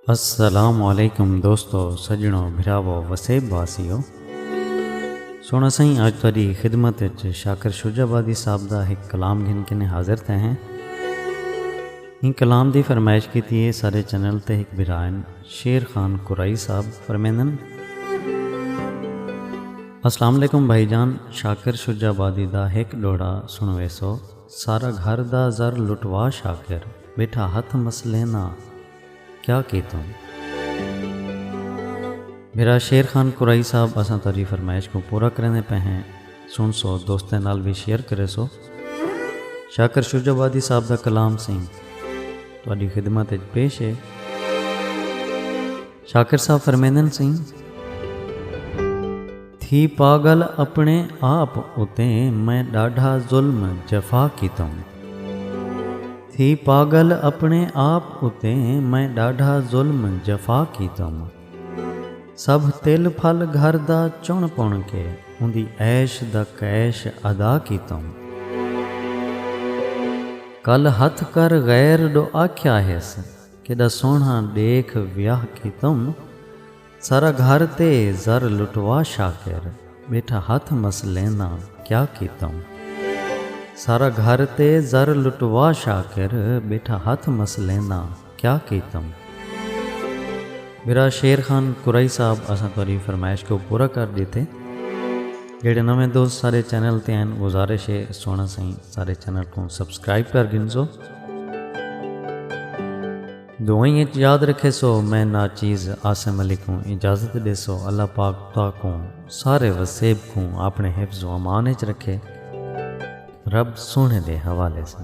السلام علیکم دوستو سجنو بھراو وسیب واسیو سونا سائیں اج تہاڈی خدمت وچ شاکر شجاع آبادی صاحب دا ایک کلام گھن کے نے حاضر تھے ہیں ان کلام دی فرمائش کیتی ہے سارے چینل تے ایک بھرائن شیر خان قرائی صاحب فرمیندن السلام علیکم بھائی جان شاکر شجاع آبادی دا ایک ڈوڑا سنویسو سارا گھر دا زر لٹوا شاکر بیٹھا ہتھ مسلیندا کیا کیتوں۔ میرا شیر خان قرائی صاحب اساں تہاڈی فرمائش کوں پورا کریندے پئے ہیں سن سو دوستیں نال وی شیئر کرے سو شاکر شجع آبادی صاحب دا کلام سئیں تہاڈی خدمت اچ پیش ہے۔ شاکر صاحب فرمیندن سئیں۔ تھی پاگل اپنے آپ اتے میں ݙاڈھا ظلم جفا کیتم۔ تھی پاگل اپنے آپ اتے میں ݙاڈھا ظلم جفا کیتم۔ سبھ تل پھل گھر دا چݨ پݨ کے اوندی عیش دا کیش ادا کیتم۔ کل ہتھ کر غیر ݙو آکھیا ہیس۔ کیݙا سوہݨا ݙیکھ ویاہ کیتم۔ سارا گھر تے زر لٹوا شاکر ٻیٹھا ہتھ مسلینداں کیا کیتم۔ سارا گھر تے زر لٹوا شاکر ٻیٹھا ہتھ مسلینداں کیا کیتم۔ برا شیر خان قریشی صاحب اساں تہاݙی فرمائش کوں پورا کر ݙتے۔ جیڑھے نویں دوست ساݙے چینل تے ہن گزارش ہے سوہݨا سئیں ساݙے چینل کوں سبسکرائب کر گھنسو۔ دعائیں اچ یاد رکھیسو میں ناچیز عاصم علی کوں اجازت ڈیسو اللہ پاک تہاکوں سارے وسیب کوں اپنے حفظ و امان اچ رکھے رب سوہنے دے حوالے سن۔